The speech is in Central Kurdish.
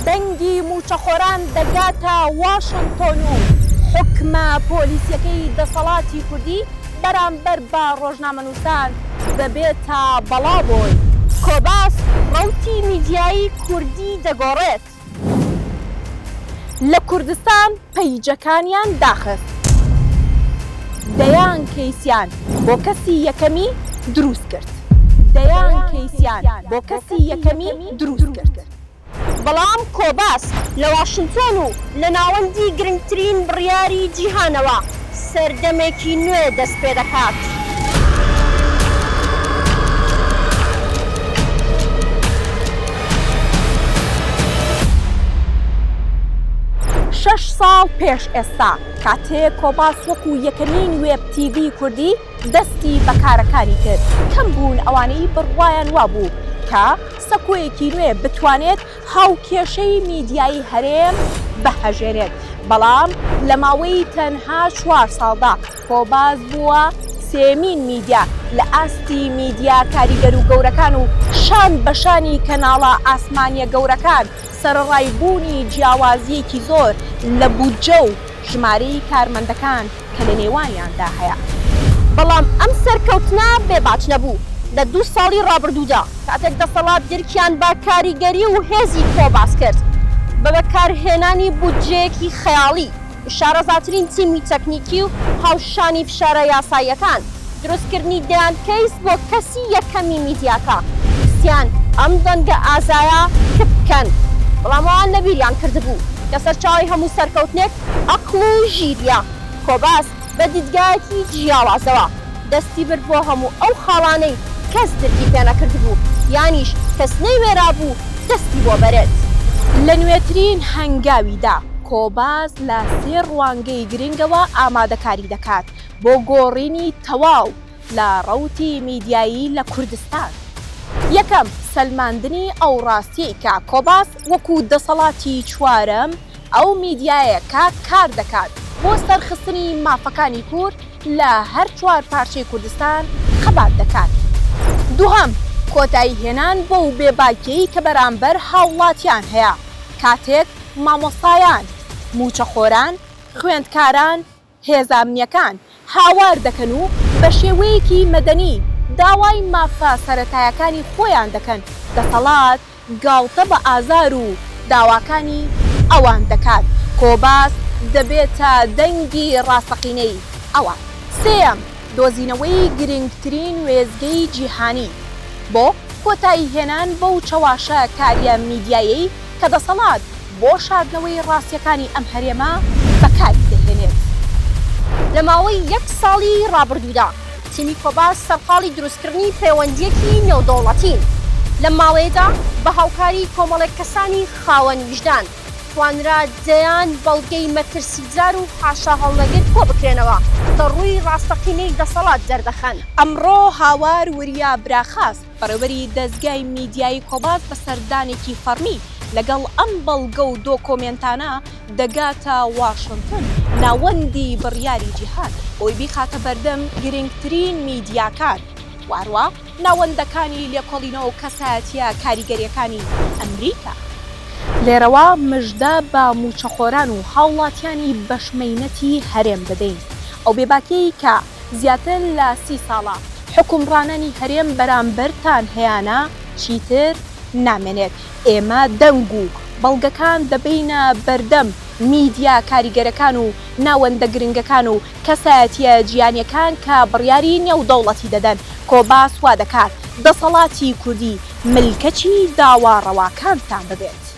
دەنگی مووچەخۆران دەگاتە واشنتۆن و حوکمە پۆلیسیەکەی دەسەڵاتی کوردی بەرامبەر بە ڕۆژنامەنووسان دەبێتە بەڵا بۆی. کۆباس ڕەوتی میدیایی کوردی دەگۆڕێت لە کوردستان. پەیجەکانیان داخست دەیان کەیسیان بۆ کەسی یەکەمی دروست کرد دەیان کەیسیان بۆ کەسی یەکەمی دروست کرد. بەڵام کۆباس لە واشنتۆن و لە ناوەندی گرنگترین بڕیاری جیهانەوە سەردەمێکی نوێ دەست پێ دەکات. شەش ساڵ پێش ئێستا، کاتێ کۆباس وەکو یەکەمین وێب تیڤی کوردی دەستی بە کارەکانی کرد، کەم بوون ئەوانەی بڕوایان وابوو کە سەکۆیەکی نوێ بتوانێت هاوکێشەی میدیایی هەرێم بهژێنێت، بەڵام لە ماوەی تەنها چوار ساڵدا خۆباز بووە سێیەمین میدیا لە ئاستی میدیا کاریگەر و گەورەکان و شان بە شانی کەناڵە ئاسمانییە گەورەکان سەرەڕای بوونی جیاوازییەکی زۆر لە بودجە و ژمارەی کارمەندەکان کە لە نێوانیاندا هەیە. بەڵام ئەم سەرکەوتنە بێ باج نەبوو. لە دوو ساڵی ڕابردوودا کاتێک دەسەڵات درکیان بە کاریگەری و هێزی خۆباس کرد بە بەکارهێنانی بودجەیەکی خەیاڵی، شارەزاترین تیمی تەکنیکی و هاوشانی فشارە یاساییەکان، دروستکردنی دەیان کەیس بۆ کەسی یەکەمی میدیاکە ویستیان ئەم دەنگە ئازایە کپ بکەن بەڵام ئەوان لەبیریان کردبوو کە سەرچاوەی هەموو سەرکەوتنێک ئەقڵ و ژیریە. کۆباس بە دیدگایەکی جیاوازەوە دەستی برد بۆ هەموو ئەو خاڵانەی کەس درکی پێ نەکردبوو یانیش کەس نەیوێرابوو دەستی بۆ بەرێت. لە نوێترین هەنگاویدا کۆباس لە سێ ڕوانگەی گرنگەوە ئامادەکاری دەکات. بۆ گۆڕینی تەواو لە ڕەوتی میدیایی لە کوردستان. یەکەم، سەلماندنی ئەو ڕاستیەی کە کۆباس وەکو دەسەڵاتی چوارەم ئەو میدیایە کە کار دەکات بۆ سەرخستنی مافەکانی کورد لە هەر چوار پارچەی کوردستان خەبات دەکات. دوهەم، کۆتایی هێنان بەو بێ باکیەی کە بەرامبەر هاوڵاتیان هەیە کاتێک مامۆستایان، موچەخۆران، خوێندکاران، هێزە ئەمنییەکان هاوار دەکەن و بە شێوەیەکی مەدەنی داوای مافە سەرەتایەکانی خۆیان دەکەن، دەسەڵات گاڵتە بە ئازار و داواکانی ئەوان دەکات، کۆباس دەبێتە دەنگی ڕاستەقینەی ئەوان. سێیەم، دۆزینەوەی گرنگترین وێستگەی جیهانی بۆ کۆتاییهێنان بەو چەواشەکارییە میدیایەی کە دەسەڵات، بۆ شاردنەوەی ڕاستیەکانی ئەم هەرێمە بەکاری دەهێنێت. لە ماوەی یەک ساڵی ڕابردوودا تیمی کۆباس سەرقاڵی دروستکردنی پەیوەندیەکی نێودەوڵەتین، لەم ماوەیەدا بە هاوکاری کۆمەڵێک کەسانی خاوەن ویژدان توانرا دەیان بەڵگەی مەترسیدار و حاشاهەڵنەگر کۆبکرێنەوە کە ڕووی ڕاستەقینەی دەسەڵات دەردەخەن. ئەمڕۆ هاوار وریا براخاس بەڕێوەبەری دەزگای میدیایی کۆباس بە سەردانێکی فەڕمی لەگەڵ ئەم بەڵگە و دۆکۆمێنتانە دەگاتە واشنتن، ناوەندی بڕیاری جیهان، بۆی بیخاتە بەردەم گرنگترین میدیاکان و هەروا ناوەندەکانی لێکۆڵینەوە و کەسایەتییە کاریگەرییەکانی ئەمریکا. لێرەوە مژدە بە مووچەخۆران و هاوڵاتیانی بەشمەینەتی هەرێم دەدەین، ئەو بێباکییەی کە زیاتر لە سی ساڵە حوکمڕانانی هەرێم بەرامبەرتان هەیانە چیتر نامێنێت، ئێمە دەنگ و بەڵگەکان دەبەینە بەردەم میدیا کاریگەرەکان و ناوەندە گرنگەکان و کەسایەتیە جیانیەکان کە بڕیاری نێودەوڵەتی دەدەن، کۆباس وادەکات دەسەڵاتی کوردی ملکەچی داوا ڕەواکانتان ببێت.